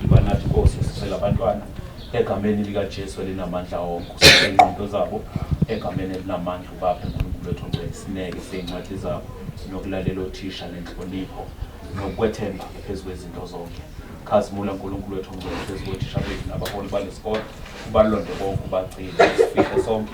Banathi Nkosi sicela abantwana egameni likaJesu elinamandla wonke ususe ingqondo zabo egameni elinamandla ubaphe uNkulunkulu wethu ongcwele isineke sey'ncwadi zabo nokulalela othisha nenhlonipho nokwethemba phezu kwezinto zonke khazimula uNkulunkulu wethu ongcwele phezu kothisha bethu nabaholi balesikole ubalonde konke ubagcine sifihle sonke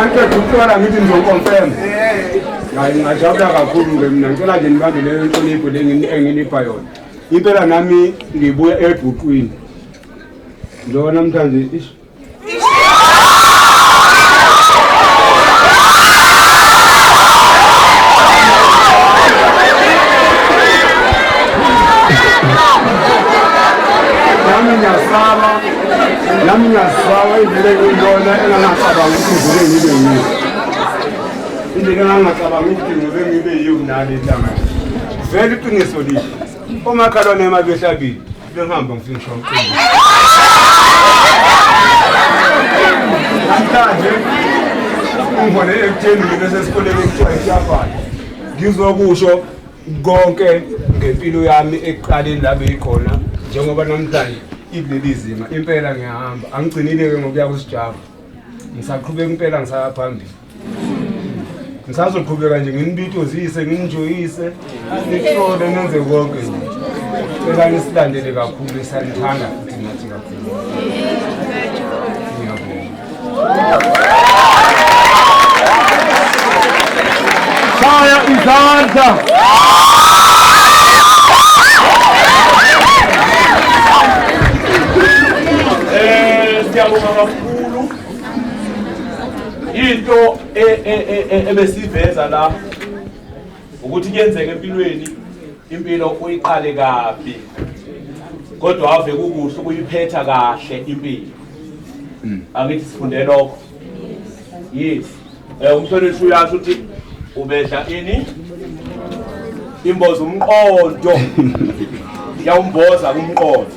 angiqeda ukuhlola ngithi ngizoconfirm hayi ngingajabula kakhulu-ke mina ngicela nje nibambe leyo nhlonipho le enginipha yona impela nami ngibuya ebhuqwini njengoba namhlanje ish nami ngiyasaba nami ngiyazisaba indlela engiyibona engangacabangi ukuthi ngike ngibe yiyo indlela engangacabangi ukuthi ngike ngibe yiyo kunale ntanga vele iqiniso lihle omakhalwane ema behlabile bengihamba ngifike ngisho umqinisa namhlanje ungibone ekutheni mina sesikoleni ekuthiwa isiyabhala ngizokusho konke ngempilo yami ekuqaleni la beyikhona njengoba namhlanje ikuleli zinga impela ngiyahamba angigcinile-ke ngokuya kusijava ngisaqhubeka impela ngisaya phambili ngisazoqhubeka nje nginibitozise nginijoyise nihlole nenze konke nje cela nisilandele kakhulu esanithanda futhi nathi kakhulu Shaya izandla. Eh siyabonga kakhulu. Into e- e- e- e- ebesiveza la ukuthi kuyenzeka empilweni impilo uyiqale kabi kodwa ave kukuhle ukuyiphetha kahle impilo hmm. angithi sifunde lokho yes eh umhlonishwa uyasho ukuthi ubedla ini imboza umqondo yawumboza kumqondo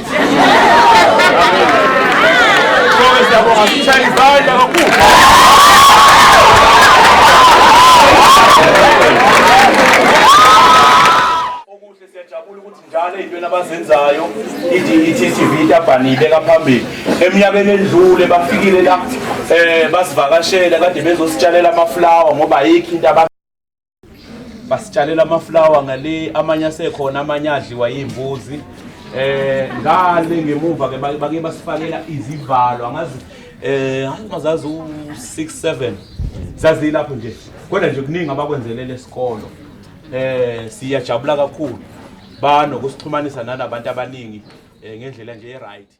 abazenzayo i-TTV itabhani ibeka phambili eminyakeni edlule bafikile la um basivakashela kade bezositshalela amaflawa ngoba ayikho into basitshalela amaflawa ngale amanye asekhona amanye adliwa yimbuzi eh ngale ngemuva ke bake basifakela izivalo angazi eh angazazi u 6 7 zazilapho nje kodwa nje kuningi abakwenzelele esikolo eh siyajabula kakhulu banokusixhumanisa nanabantu abaningi eh, ngendlela nje e right